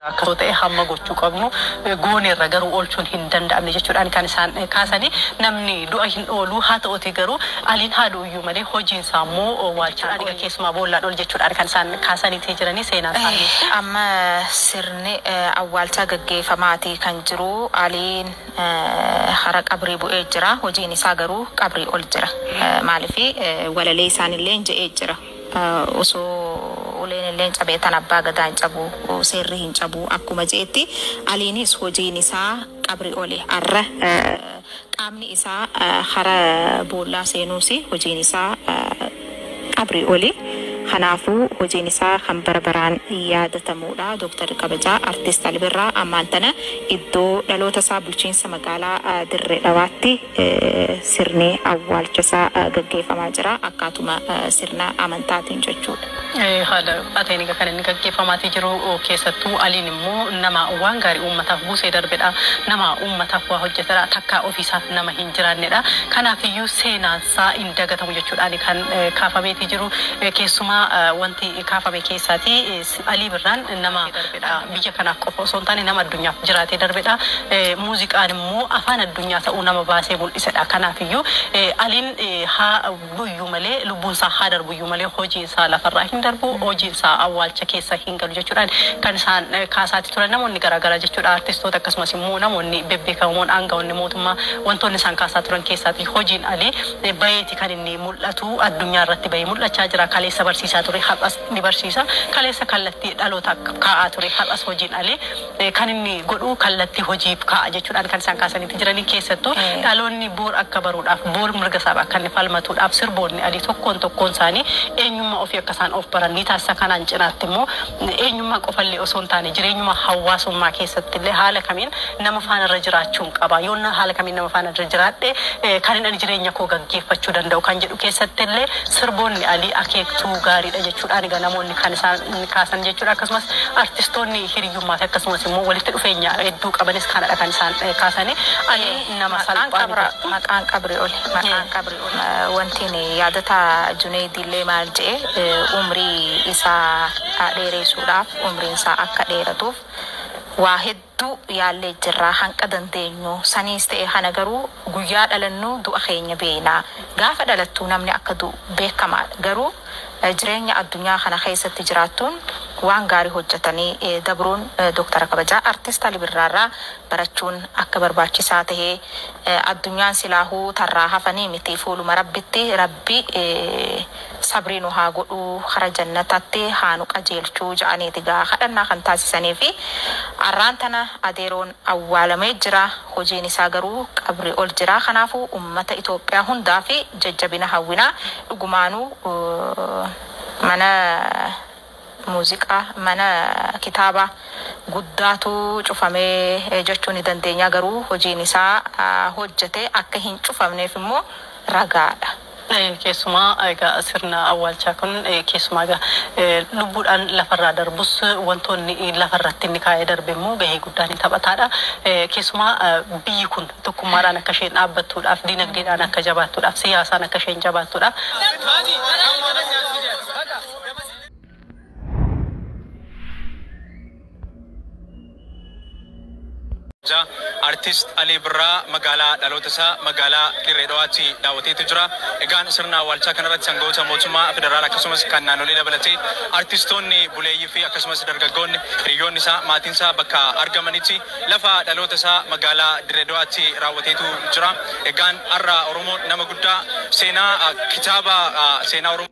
Akka osoo ta'e hamma gochuu qabnu gooneerra garuu oolchuun hin danda'amne jechuudhaan kan isaan kaasanii namni du'a hin ooluu haa ta'uutii garuu aliin haa du'uyyuu malee hojiin isaa immoo waalchaadhaan dhiga keessumaa boollaan ol jechuudhaan kan isaan kaasaniitii jiranii seenaan isaanii. Amma sirni awwaalchaa gaggeefamaatii kan jiru aliin hara qabrii bu'ee jira hojiin isaa garuu qabrii ol jira maaliif walalee isaanilleen je'ee jira. Osoo uleen illee hin cabee tan abbaa gadaa hin cabuu seerri hin cabuu akkuma je'etti Aliinis hojiin isaa qabri ole arra qaamni isaa hara boollaa seenuusi hojiin isaa qabri oli kanaafuu hojiin isaa kan bara baraan yaadatamuudha Dr kabajaa Artist Alibirraa ammaan tana iddoo dhaloota isaa bulchiinsa magaalaa Dirre Dhawaatti Sirni awwaalcha isaa gaggeeffamaa jira. Akkaatuma sirna amantaatiin jechuudha. Haala ateen egaa kan inni gaggeeffamaatii jiru keessattuu Aliin immoo nama waan gaarii uummataaf buusee darbedha. Nama uummataaf waa hojjetedha. Takkaa ofiisaaf nama hin jiraannedha. Kanaafiyyuu seenaansaa hin dagatamu jechuudhaani kan kaafameetii jiru. Keessumaa wanti kaafame keessaatii. Alii Birraan nama biyya kanaaf qofa osoo hin taane nama addunyaaf jiraatee darbedha. Muuziqaan immoo afaan addunyaa ta'uu nama baasee mul'isedha. Kanaafiyyuu Aliin haa du'uyyuu malee, lubbuun isaa haa darbuyyuu malee hojiin isaa lafarraa hin darbu, hojiin isaa awwaalcha keessa hin galu jechuudhaan kan isaan kaasaati turan namoonni garaa garaa jechuudha. Artistoota akkasumas immoo namoonni bebbeekamoon aanga'oonni mootummaa wantoonni isaan kaasaa turan keessaati hojiin Alii baheeti kan inni mul'atu. Addunyaa irratti bahee mul'achaa jira. Kaleessa barsiisaa ture har'as ni barsiisa. Kaleessa kallattii dhalootaaf kaa'aa ture har'as hojiin alee kan inni godhu kallattii hojiif kaa'a jechuudhaan kan isaan kaasaniiti jiranii. Keessattuu dhaloonni boor akka baruudhaaf, boor mirga isaaf akka inni falmatuudhaaf sirboonni alii tokkoon tokkoon isaanii eenyummaa ofii akka isaan of baran ni taasisa. Kanaan cinaatti immoo eenyummaa qofa illee osoo hin taane jireenyuma hawaasummaa keessatti illee haala kamiin nama faana irra jiraachuun qaba, yoon haala kamiin nama faana irra jiraadhe kanin ani jireenya koo gaggeeffachuu danda'u kan jedhu. keessattillee sirboonni Alii Akeektuu gaariidha jechuudhaan egaa namoonni kan isaan kaasan jechuudha. Akkasumas artistoonni hiriyyummaa fi akkasumas immoo walitti dhufeenya hedduu qabanis kanadha kan isaan kaasanii. Alii nama Maqaan salphaa qabra miti. maqaan qabri oli maqaan qabri oli. Wantiin yaadota Juneeydiillee maal je'e umrii isaa dheereeysuudhaaf umriin isaa akka dheeratuuf waa hedduu Hedduu yaallee jirra hanqa dandeenyu saniis ta'e kana garuu guyyaa dhalannu du'a keenya beeyna. Gaafa dhalattu namni akka du'u beekkamaadha. Garuu jireenya addunyaa kana keessatti jiraattuun waan gaarii hojjatanii dabruun Doktara kabajaa Artist Ali Birraarraa barachuun akka barbaachisaa tahe addunyaan silaahuu tarraa hafanii miti fuuluma Rabbitti Rabbi sabrii nu haa godhuu kara jannatatti haa nu qajeelchuu ja'aniiti egaa kadhannaa kan taasisaniifi arraan tana adeeroon awwaalamee jira hojiin isaa garuu qabri ol jira kanaafu ummata itoophiyaa hundaafi jajjabina hawwina dhugumaanu mana Muuziqaa mana kitaabaa guddaatu cufame jechuu ni dandeenya, garuu hojiin isaa hojjete akka hin cufamneef immoo ragaa dha. Keessumaa egaa sirna awwaalchaa kun keessumaa egaa lubbuudhaan lafa irraa darbus wantoonni lafa irratti inni kaa'ee darbe immoo gahee guddaa ni taphataa dha. Keessumaa biyyi kun tokkummaadhaan akka isheen dhaabbattuudhaaf, diinagdeedhaan akka jabaattuudhaaf, siyaasaan akka isheen jabaattuudhaaf, Jaa artist Alii Birraa magaalaa dhaloota isaa magaalaa Dirree Dhawaatti daawwateetu jira. Egaan sirna awwaalchaa kanarratti aangawoota mootummaa federaalaa akkasumas kan naannolee dabalatee artistoonni buleeyyii fi akkasumas dargaggoonni hiriyoonni isaa maatiin isaa bakka argamanitti lafa dhaloota isaa magaalaa Dirree Dhawaatti raawwateetu jira. Egaan har'a Oromoon nama guddaa seenaa ah, kitaaba ah, seenaa Oromoo.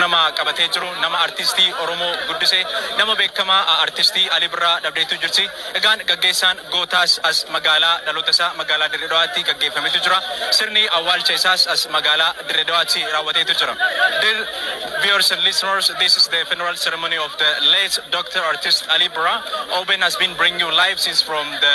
nama qabatee jiru nama artistii Oromoo guddise nama beekamaa a- artistii Ali Birraa dhabdeetu jirti. Egaan gaggeessaan gootaas as magaalaa dhaloota isaa magaalaa Dirree Dhawaatti gaggeeffametu jira. Sirni awwaalcha isaas as magaalaa Dirree Dhawaatti raawwateetu jira. Dear viewers and listeners, this is the funeral ceremony of the late Dr. Artist Ali Birraa. Oben has been bringing you live since from the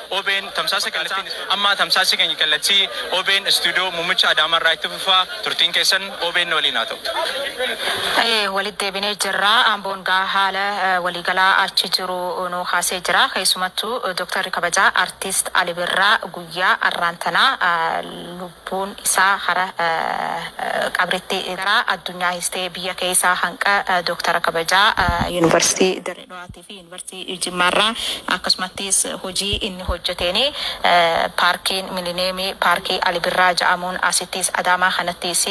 Obn tamsaasa kallattiin Amma tamsaasii keenya kallattii obn istuudiyoo muummicha Adaamaa irraa itti fufa. Turtiin keessan obn waliin haa ta'u. Haye walitti deebinee jirra. Amboon gaa haala waliigalaa achi jiru nuu kaasee jira. Keessumattu Doktarri kabajaa Artist Ali Birraa guyyaa arraan tanaa lubbuun isaa hara qabritti garaa addunyaa histee biyya keeysaa hanqa Doktara kabajaa University Dirre Dhawaatifi. Yuunivarsiitii Jimmaarraa akkasumattis hojii inni hojjeteeni Paarkiin Milineemii Paarkii Ali Birraa ja'amuun asittis Adaamaa kanattis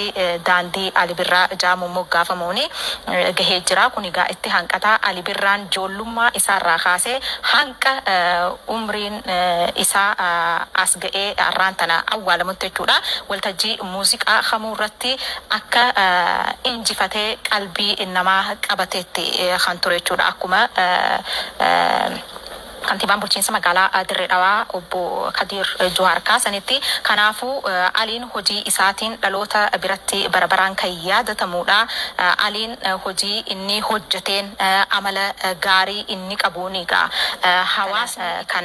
Daandii Ali Birraa ja'amuun moggaafamuun gahee jira. Kun egaa itti hanqata. Ali Birraan joollummaa isaarraa kaasee hanga umriin isaa as ga'ee har'aan tana awwaalamutti jechuudha waltajjii muuziqaa kamuurratti akka injifatee qalbii namaa qabateetti kan ture jechuudha. Akkuma Kantiibaan Bulchiinsa Magaalaa Dirree Dhawaa Obbo Kadiir Juhaar kaasanitti, kanaafuu Aliin hojii isaatiin dhaloota biratti bara baraan kan yaadatamuudha. Aliin hojii inni hojjeteen, amala gaarii inni qabuuni egaa hawaasni kan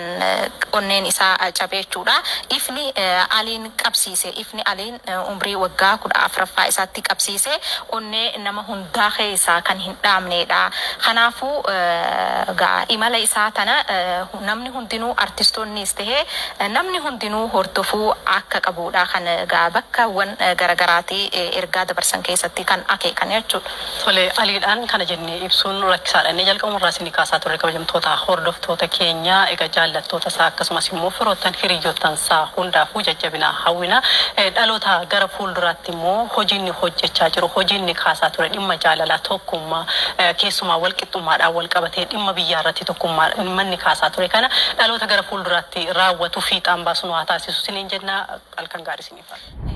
onneen isaa cabe jechuudha. Ifni Aliin qabsiise, ifni Aliin. Umrii waggaa 14ffaa isaatti qabsiisee onnee nama hundaa keessaa kan hin dhaamneedha. Kanaafuu, egaa imala isaa tana namni hundinuu artistoonniis tahee namni hundinuu hordofuu akka qabuudha kan egaa bakkawwan garagaraatii ergaa dabarsan keessatti kan akeekan jechuudha. Tole, aliidhaan kana jennee ibsuun rakkisaadha. Inni jalqabuma irraa isinii kaasaa turre kabajamtoota hordoftoota keenya. Egaa jaallattoota isaa akkasumas immoo firoottan hiriyyoottan isaa hundaafuu jajjabina hawwina. Dhaloota gara fuulduraatti immoo hojii inni hojjechaa jiru, hojii inni kaasaa ture dhimma jaalalaa, tokkummaa, keessumaa walqixxummaadhaan walqabatee dhimma biyyaa irratti tokkummaa dhimma inni kaasaa ture kana dhaloota gara fuulduraatti raawwatu fiixaan baasu nu haa taasisu isiniin jenna. Halkan gaarii isiniif haa ta'u.